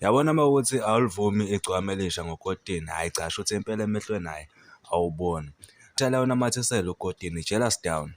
Yabona uma ukuthi awulivumi igcwama elisha ngokotini, hhayi cha sho ukuthi impela emehlweni hhayi awuboni. Tshela unamathisele ukotini, jealous down.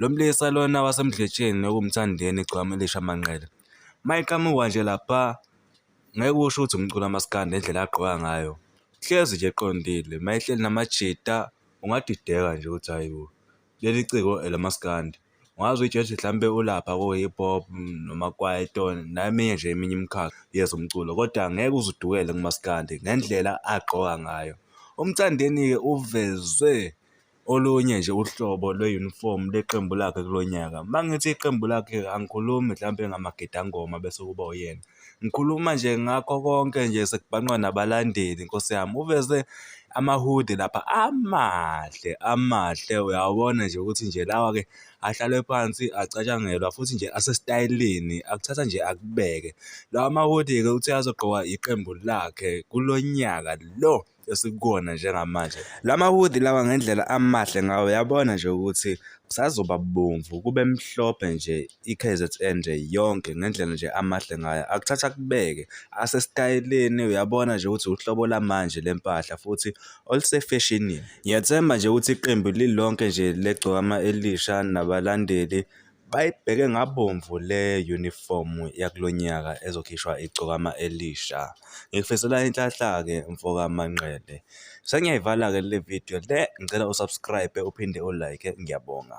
Lo mlisa lona wasemdletsheni nokumthandeni igcwama elisha manqele. Mayiqhamuka nje lapha ngeke usho ukuthi umculo amaskandi ngendlela agqoka ngayo. Hlezi nje eqondile, mayehleli namajita ungadideka nje ukuthi hhayi bo. leli ciko elamaskandi ungaze uyitshele ukuthi mhlawumbe ulapha ko-hip hop noma kwaito neminye nje eminye imikhakha yezomculo kodwa ngeke uze udukele kumaskandi ngendlela agqoka ngayo umthandeni-ke uveze olunye nje uhlobo lwe-uniform leqembu lakhe kulo nyaka uma ngithi iqembu lakhe angikhulumi mhlawumbe ngamagidangoma bese kuba uyena Ngikhuluma nje ngakho konke nje sekubhanqwa nabalandeli nkosi yami uveze amahudi lapha amahle amahle uyawabona nje ukuthi nje lawa-ke ahlalwe phansi acatshangelwa futhi nje asesitayeleni akuthatha nje akubeke lawa mahudi-ke uthi azogqokwa iqembu lakhe kulo nyaka lo esikukona njengamanje la mahudi lawa ngendlela amahle ngawo uyabona nje ukuthi kusazoba bomvu kube mhlophe nje i-KZN nje yonke ngendlela nje amahle ngayo akuthatha kubeke asesitayeleni uyabona nje ukuthi uhlobo lamanje lempahla futhi olusefeshinini ngiyethemba nje ukuthi iqembu lilonke nje legcokama elisha nabalandeli Bayibheke ngabomvu le yunifomu yakulo nyaka ezokhishwa igcokama elisha. Ngikufisela inhlanhla-ke mfoka Manqele. Sengiyayivala-ke le video le, ngicela u-subscribe uphinde u-like. Ngiyabonga.